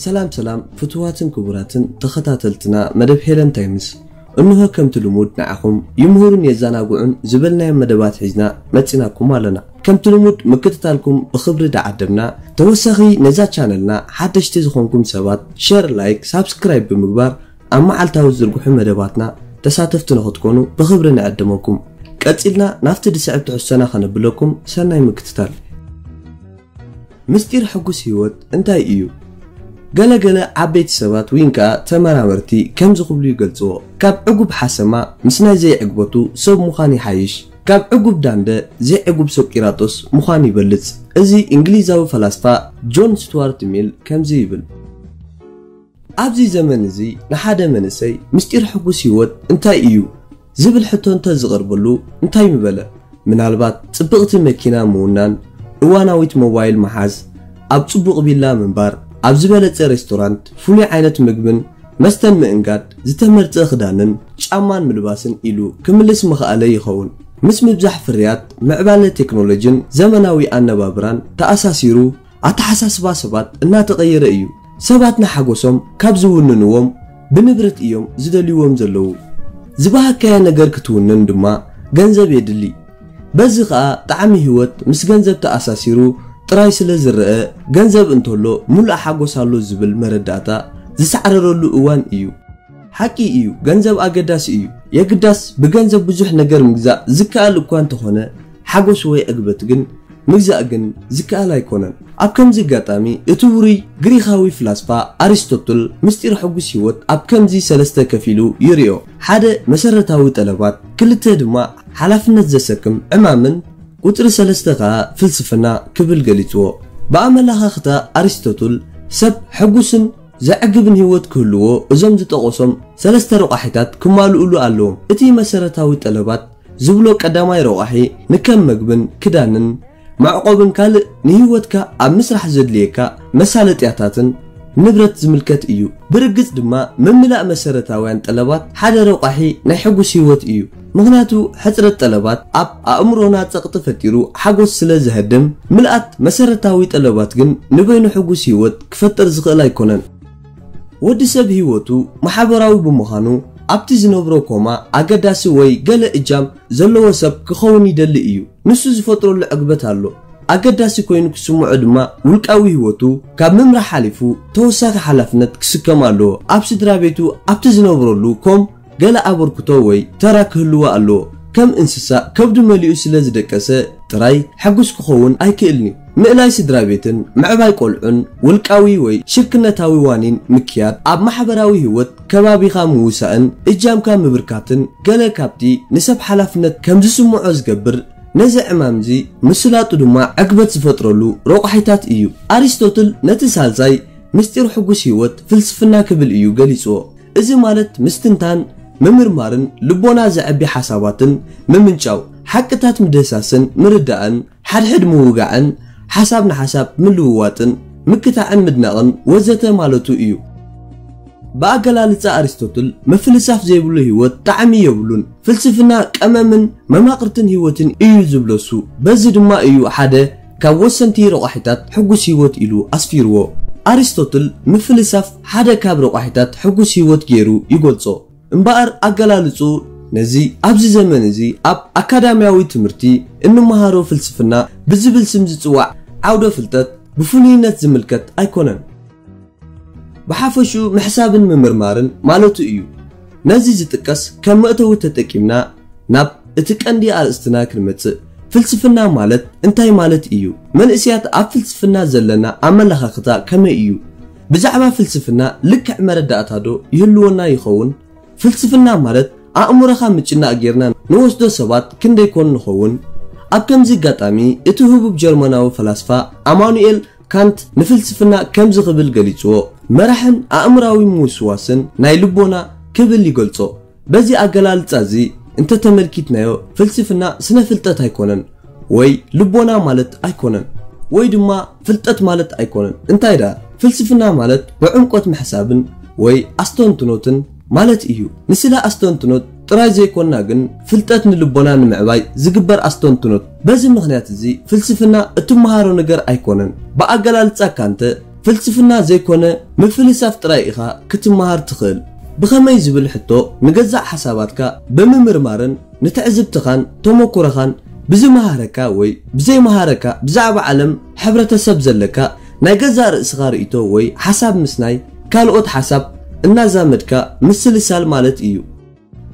ሰላም ሰላም ፍትዋትን ክቡራትን ተኸታተልትና መደብ ሄለን ታይምስ እንሆ ከምቲ ልሙድ ንዓኹም ይምህሩን የዘናግዑን ዝበልናዮ መደባት ሒዝና መፂናኩም ኣለና ከምቲ ልሙድ ምክትታልኩም ብክብሪ ዳዓደምና ተወሳኺ ነዛ ቻነልና ሓደሽቲ ዝኾንኩም ሰባት ሸር ላይክ ሳብስክራይብ ብምግባር ኣብ መዓልታዊ ዝዝርግሑ መደባትና ተሳተፍቲ ንኽትኮኑ ብኽብሪ ንዕድመኩም። ቀጺልና ናብቲ ዝስዕብ ትሕዝቶና ከነብለኩም ሰናይ ምክትታል። ምስጢር ሕጉስ ህይወት እንታይ እዩ? ገለ ገለ ዓበይቲ ሰባት ዊን ከኣ ተመራመርቲ ከምዚ ክብሉ ይገልጽዎ፣ ካብ ዕጉብ ሓሰማ ምስ ናይ ዘይዕግበቱ ሰብ ምዃን ይሓይሽ፣ ካብ ዕጉብ ዳንደ ዘይዕጉብ ሶቂራጦስ ምዃን ይበልጽ። እዚ እንግሊዛዊ ፈላስፋ ጆን ስትዋርት ሚል ከምዚ ይብል። ኣብዚ ዘመን እዚ ንሓደ መንእሰይ ምስጢር ሕጉስ ህይወት እንታይ እዩ? ዝብል ሕቶ እንተ ዝቐርበሉ እንታይ ምበለ? ምናልባት ጽብቕቲ መኪና ምውናን፣ እዋናዊት ሞባይል ምሓዝ፣ ኣብ ጽቡቕ ቪላ ምንባር፣ ኣብ ዝበለጸ ሬስቶራንት ፍሉይ ዓይነት ምግብን መስተን ምእንጋድ፣ ዝተመርጸ ክዳንን ጫማን ምልባስን ኢሉ ክምልስ ምኸኣለ ይኸውን። ምስ ምብዛሕ ፍርያት፣ ምዕባለ ቴክኖሎጂን ዘመናዊ ኣነባብራን ተኣሳሲሩ፣ ኣተሓሳስባ ሰባት እናተቐየረ እዩ። ሰባት ንሓጎሶም ካብ ዝውንንዎም ብንብረት እዮም ዝደልይዎም ዘለዉ። ዝበሃግካያ ነገር ክትውንን ድማ ገንዘብ የድሊ። በዚ ከኣ ጣዕሚ ህይወት ምስ ገንዘብ ተኣሳሲሩ ጥራይ ስለ ዝረኣ ገንዘብ እንተሎ ምሉእ ሓጎስ ኣሎ ዝብል መረዳእታ ዝሳዕረረሉ እዋን እዩ። ሓቂ እዩ ገንዘብ ኣገዳሲ እዩ የግዳስ ብገንዘብ ብዙሕ ነገር ምግዛእ ዝከኣል እኳ እንተኾነ ሓጎስ ወይ ዕግበት ግን ምግዛእ ግን ዝከኣል ኣይኮነን ኣብ ከምዚ ኣጋጣሚ እቲ ውሩይ ግሪኻዊ ፍላስፋ ኣሪስቶትል ምስጢር ሕጉስ ህይወት ኣብ ከምዚ ሰለስተ ከፊሉ ይርዮ ሓደ መሰረታዊ ጠለባት ክልተ ድማ ሓላፍነት ዘሰክም ዕማምን ቁጽሪ ሰለስተ ከኣ ፍልስፍና ክብል ገሊጽዎ ብኣመላኻኽታ ኣሪስቶትል ሰብ ሕጉስን ዘዕግብን ህይወት ክህልዎ እዞም ዝጠቐሶም ሰለስተ ረቋሒታት ክማልኡሉ ኣለዎም። እቲ መሰረታዊ ጠለባት ዝብሎ ቀዳማይ ረቋሒ ንከም መግብን ክዳንን መዕቆብን ካልእ ንህይወትካ ኣብ ምስራሕ ዘድልየካ መሳለጥያታትን ንብረት ዝምልከት እዩ። ብርግጽ ድማ ምምላእ መሰረታውያን ጠለባት ሓደ ረቋሒ ናይ ሕጉስ ህይወት እዩ። ምኽንያቱ ሕጽረት ጠለባት ኣብ ኣእምሮና ጸቕጢ ፈጢሩ ሓጎስ ስለ ዘህድም፣ ምልኣት መሰረታዊ ጠለባት ግን ንበይኑ ሕጉስ ህይወት ክፈጥር ዝኽእል ኣይኮነን። ወዲ ሰብ ህይወቱ ማሕበራዊ ብምዃኑ ኣብቲ ዝነብሮ ኮማ ኣገዳሲ ወይ ገለ እጃም ዘለዎ ሰብ ክኸውን ይደሊ እዩ። ንሱ ዝፈጥረሉ ዕግበት ኣሎ። ኣገዳሲ ኮይኑ ክስምዖ ድማ ውልቃዊ ህይወቱ ካብ ምምራሕ ሓሊፉ ተወሳኺ ሓላፍነት ክስከም ኣለዎ። ኣብ ስድራቤቱ ኣብቲ ዝነብረሉ ኮም ገለ ኣበርክቶ ወይ ተራ ክህልዎ ኣለዎ። ከም እንስሳ ከብዱ መሊኡ ስለ ዝደቀሰ ጥራይ ሕጉስ ክኸውን ኣይክእልን'ዩ። ምእላይ ስድራቤትን ምዕባይ ቆልዑን ውልቃዊ ወይ ሽርክነታዊ ዋኒን ምክያድ፣ ኣብ ማሕበራዊ ህይወት ከባቢኻ ምውሳእን እጃምካ ምብርካትን ገለ ካብቲ ንሰብ ሓላፍነት ከም ዝስምዖ ዝገብር ነዚ ዕማም'ዚ ምስላጡ ድማ ዕግበት ዝፈጥረሉ ረቋሒታት እዩ። ኣሪስቶትል ነቲ ሳልሳይ ምስጢር ሕጉስ ህይወት ፍልስፍና ክብል እዩ ገሊጽዎ። እዚ ማለት ምስትንታን፣ ምምርማርን ልቦና ዘዕቢ ሓሳባትን ምምንጫው፣ ሓቅታት ምድህሳስን ምርዳእን፣ ሓድሕድ ምውጋዕን ሓሳብ ንሓሳብ ምልውዋጥን ምክታዕን ምድናቕን ወዘተ ማለቱ እዩ። ብኣገላልጻ ኣሪስቶትል ምፍልሳፍ ዘይብሉ ህይወት ጣዕሚ የብሉን፣ ፍልስፍና ቀመምን መማቕርትን ህይወትን እዩ ዝብለሱ በዚ ድማ እዩ ሓደ፣ ካብ ወሰንቲ ረቋሒታት ሕጉስ ህይወት ኢሉ ኣስፊርዎ። ኣሪስቶትል ምፍልሳፍ ሓደ ካብ ረቋሒታት ሕጉስ ህይወት ገይሩ ይገልጾ። እምበኣር ኣገላልጽኡ ነዚ ኣብዚ ዘመን እዚ ኣብ ኣካዳምያዊ ትምህርቲ እንመሃሮ ፍልስፍና ብዝብል ስም ዝጽዋዕ ዓውደ ፍልጠት ብፍሉይነት ዝምልከት ኣይኮነን። ብሓፈሽኡ ምሕሳብን ምምርማርን ማለቱ እዩ። ነዚ ዝጥቀስ ከም መእተዊ ተጠቂምና ናብ እቲ ቀንዲ ኣርእስትና ክንመጽእ፣ ፍልስፍና ማለት እንታይ ማለት እዩ? መንእሰያት ኣብ ፍልስፍና ዘለና ኣመለኻኽታ ከመይ እዩ? ብዛዕባ ፍልስፍና ልክዕ መረዳእታዶ ይህልወና ይኸውን? ፍልስፍና ማለት ኣእምሮኻ ምጭናቕ ጌርና ንወስዶ ሰባት ክንደይ ኮን ንኸውን? ኣብ ከምዚ ኣጋጣሚ እቲ ህቡብ ጀርመናዊ ፈላስፋ ኣማኑኤል ካንት ንፍልስፍና ከምዚ ክብል ገሊጽዎ፣ መራሕን ኣእምሮኣዊ ምውስዋስን ናይ ልቦና ክብል ይገልጾ። በዚ ኣገላልጻ እዚ እንተ ተመልኪትናዮ ፍልስፍና ስነ ፍልጠት ኣይኮነን ወይ ልቦና ማለት ኣይኮነን። ወይ ድማ ፍልጠት ማለት ኣይኮነን። እንታይ ደኣ ፍልስፍና ማለት ብዕምቆት ምሕሳብን ወይ ኣስተንትኖትን፣ ማለት እዩ። ንስለ ኣስተንትኖት ጥራይ ዘይኮንና ግን ፍልጠት ንልቦና ንምዕባይ ዝግበር ኣስተንትኖት በዚ ምኽንያት እዚ ፍልስፍና እትመሃሮ ነገር ኣይኮነን። ብኣገላልጻካ እንተ ፍልስፍና ዘይኮነ ምፍልሳፍ ጥራይ ኢኻ ክትመሃር ትኽእል። ብኸመይ ዝብል ሕቶ ንገዛእ ሓሳባትካ ብምምርማርን ንትዕዝብትኻን ተመኩሮኻን ብዝመሃረካ ወይ ብዘይመሃረካ ብዛዕባ ዓለም ሕብረተሰብ ዘለካ ናይ ገዛእ ርእስኻ ርእይቶ ወይ ሓሳብ ምስ ናይ ካልኦት ሓሳብ እናዛመድካ ምስልሳል ማለት እዩ።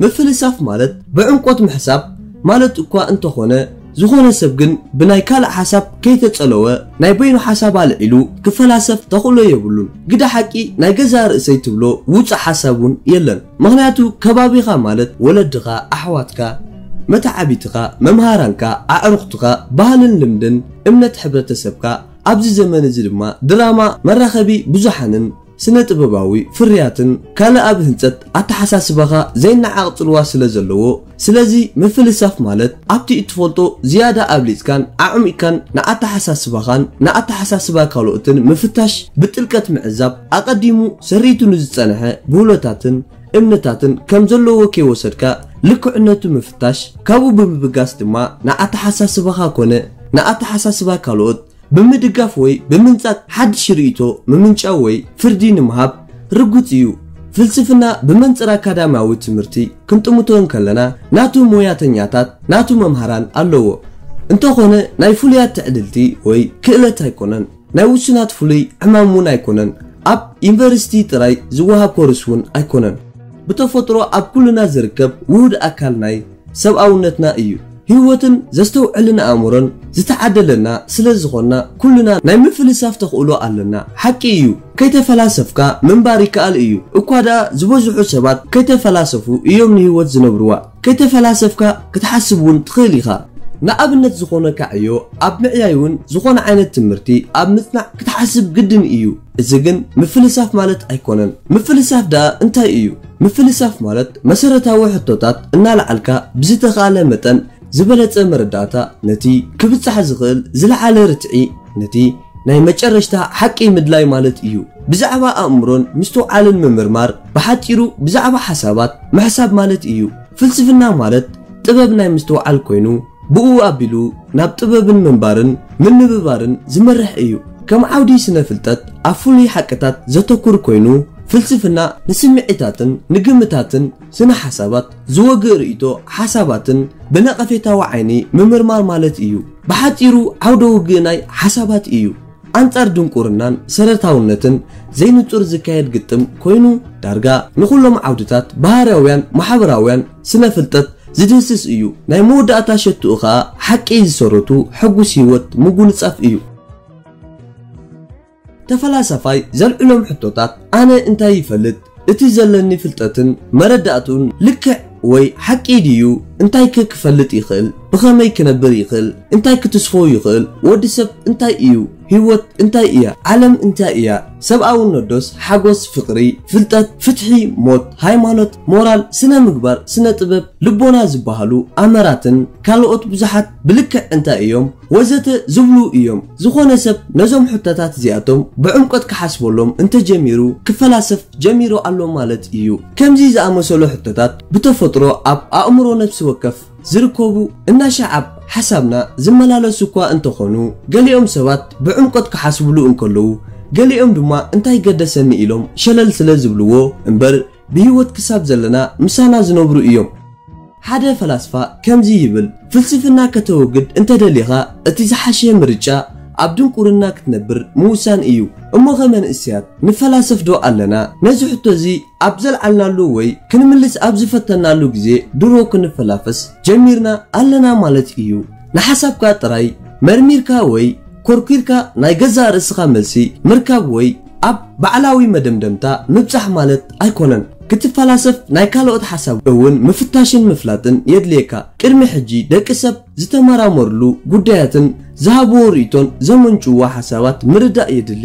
ምፍልሳፍ ማለት ብዕምቆት ምሕሳብ ማለት እኳ እንተኾነ፣ ዝኾነ ሰብ ግን ብናይ ካልእ ሓሳብ ከይተጸለወ ናይ በይኑ ሓሳብ ኣልዒሉ ክፈላሰፍ ተኽእሎ የብሉን። ግደ ሓቂ ናይ ገዛእ ርእሰይ ትብሎ ውጹእ ሓሳብ እውን የለን። ምኽንያቱ ከባቢኻ ማለት ወለድኻ፣ ኣሕዋትካ፣ መተዓብይትኻ፣ መምሃራንካ፣ ኣዕሩኽትኻ፣ ባህልን ልምድን፣ እምነት ሕብረተሰብካ፣ ኣብዚ ዘመን እዚ ድማ ድራማ መራኸቢ ብዙሓንን ስነ ጥበባዊ ፍርያትን ካልእ ኣብ ህንጸት ኣተሓሳስባኻ ዘይነዓቕ ጽልዋ ስለ ዘለዎ ስለዚ ምፍልሳፍ ማለት ኣብቲ እትፈልጦ ዝያዳ ኣብሊጽካን ኣዕሚቕካን ንኣተሓሳስባኻን ንኣተሓሳስባ ካልኦትን ምፍታሽ ብጥልቀት ምዕዛብ ኣቐዲሙ ሰሪቱ ንዝጸንሐ ብህሎታትን እምነታትን ከም ዘለዎ ከይወሰድካ ልክዕነቱ ምፍታሽ፣ ካብኡ ብምብጋስ ድማ ንኣተሓሳስባኻ ኮነ ንኣተሓሳስባ ካልኦት ብምድጋፍ ወይ ብምንጻግ ሓድሽ ርእይቶ ምምንጫው ወይ ፍርዲ ንምሃብ ርጉጽ እዩ። ፍልስፍና ብመንጽር ኣካዳምያዊ ትምህርቲ ክንጥምቶ እንከለና ናቱ ሞያተኛታት፣ ናቱ መምሃራን ኣለዎ። እንተኾነ ናይ ፍሉያት ትዕድልቲ ወይ ክእለት ኣይኮነን። ናይ ውሱናት ፍሉይ ዕማም እውን ኣይኮነን። ኣብ ዩኒቨርሲቲ ጥራይ ዝወሃብ ኮርስ እውን ኣይኮነን። ብተፈጥሮ ኣብ ኩልና ዝርከብ ውሁድ ኣካል ናይ ሰብኣውነትና እዩ። ህይወትን ዘስተውዕልን ኣእምሮን ዝተዓደለና ስለ ዝኾንና ኩልና ናይ ምፍልሳፍ ተኽእሎ ኣለና። ሓቂ እዩ ከይተፈላሰፍካ ምንባር ይከኣል እዩ። እኳ ደኣ ዝበዝሑ ሰባት ከይተፈላሰፉ እዮም ንህይወት ዝነብርዋ። ከይተፈላሰፍካ ክትሓስብ ውን ትኽእል ኢኻ። ንኣብነት ዝኾነካ ዕዮ ኣብ ምዕያይ ውን ዝኾነ ዓይነት ትምህርቲ ኣብ ምጽናዕ ክትሓስብ ግድን ኢዩ። እዚ ግን ምፍልሳፍ ማለት ኣይኮነን። ምፍልሳፍ ደኣ እንታይ ኢዩ? ምፍልሳፍ ማለት መሰረታዊ ሕቶታት እናልዓልካ ብዝተኻእለ መጠን ዝበለጸ መረዳእታ ነቲ ክብጻሕ ዝኽእል ዝለዓለ ርትዒ፣ ነቲ ናይ መጨረሽታ ሓቂ ምድላይ ማለት እዩ። ብዛዕባ ኣእምሮን ምስትውዓልን ምምርማር ብሓጺሩ ብዛዕባ ሓሳባት ምሕሳብ ማለት እዩ። ፍልስፍና ማለት ጥበብ ናይ ምስትውዓል ኮይኑ ብእኡ ኣቢሉ ናብ ጥበብን ምንባርን ምንብባርን ዝመርሕ እዩ። ከም ዓውዲ ስነ-ፍልጠት ኣብ ፍሉይ ሓቅታት ዘተኩር ኮይኑ ፍልስፍና ንስምዒታትን ንግምታትን፣ ስነ-ሓሳባት ዝወግእ ርእይቶ ሓሳባትን ብነቐፌታዊ ዓይኒ ምምርማር ማለት እዩ። ብሓጺሩ ዓውደ ውግእ ናይ ሓሳባት እዩ። ኣንጻር ድንቁርናን ሰረታውነትን ዘይንጹር ዝካየድ ግጥም ኮይኑ ዳርጋ ንኹሎም ዓውድታት ባህርያውያን ማሕበራውያን ስነ-ፍልጠት ዝድህስስ እዩ። ናይ መወዳእታ ሸትኡ ከኣ ሓቂ ዝሰረቱ ሕጉስ ህይወት ምጉንጻፍ እዩ። ተፈላሳፋይ ዘልዕሎም ሕቶታት ኣነ እንታይ ይፈልጥ? እቲ ዘለኒ ፍልጠትን መረዳእትኡን ልክዕ ወይ ሓቂ ድዩ? እንታይከ ክፈልጥ ይኽእል? ብኸመይ ክነብር ይኽእል? እንታይ ክትስፎ ይኽእል? ወዲ ሰብ እንታይ እዩ? ህይወት እንታይ እያ? ዓለም እንታይ እያ? ሰብኣውነትዶስ ሓጎስ፣ ፍቕሪ፣ ፍልጠት፣ ፍትሒ፣ ሞት፣ ሃይማኖት፣ ሞራል፣ ስነ ምግባር፣ ስነ ጥበብ፣ ልቦና ዝበሃሉ ኣምራትን ካልኦት ብዙሓት ብልክዕ እንታይ እዮም? ወዘተ ዝብሉ ኢዮም። ዝኾነ ሰብ ነዞም ሕቶታት እዚኣቶም ብዕምቆት ክሓስበሎም እንተ ጀሚሩ ክፈላሰፍ ጀሚሩ ኣሎ ማለት ኢዩ። ከምዚ ዝኣመሰሉ ሕቶታት ብተፈጥሮ ኣብ ኣእምሮ ነፍሲ ወከፍ ዝርከቡ እናሻዓብ ሓሳብና ዝመላለሱ እኳ እንተ ኾኑ፣ ገሊኦም ሰባት ብዕምቆት ክሓስብሉ እንከለዉ ገሊኦም ድማ እንታይ ገደሰኒ ኢሎም ሸለል ስለ ዝብልዎ እምበር፣ ብህይወት ክሳብ ዘለና ምሳና ዝነብሩ እዮም። ሓደ ፈላስፋ ከምዚ ይብል፣ ፍልስፍና ከተወግድ እንተ ደሊኻ፣ እቲ ዝሓሸ ምርጫ ኣብ ድንቁርና ክትነብር ምውሳን እዩ። እሞኸ መንእሰያት ንፈላሰፍዶ ኣለና? ነዚ ሕቶ እዚ ኣብ ዘልዓልናሉ ወይ ክንምልስ ኣብ ዝፈተንናሉ ግዜ ድሮ ክንፈላፈስ ጀሚርና ኣለና ማለት እዩ። ንሓሳብካ ጥራይ መርሚርካ ወይ ኮርኲርካ ናይ ገዛእ ርእስኻ መልሲ ምርካብ ወይ ኣብ ባዕላዊ መደምደምታ ምብጻሕ ማለት ኣይኮነን። ክትፈላሰፍ ናይ ካልኦት ሓሳብ እውን ምፍታሽን ምፍላጥን የድልየካ። ቅድሚ ሕጂ ደቂ ሰብ ዝተመራመሩሉ ጉዳያትን ዝሃብዎ ርእይቶን ዘመንጭዉዎ ሓሳባት ምርዳእ የድሊ።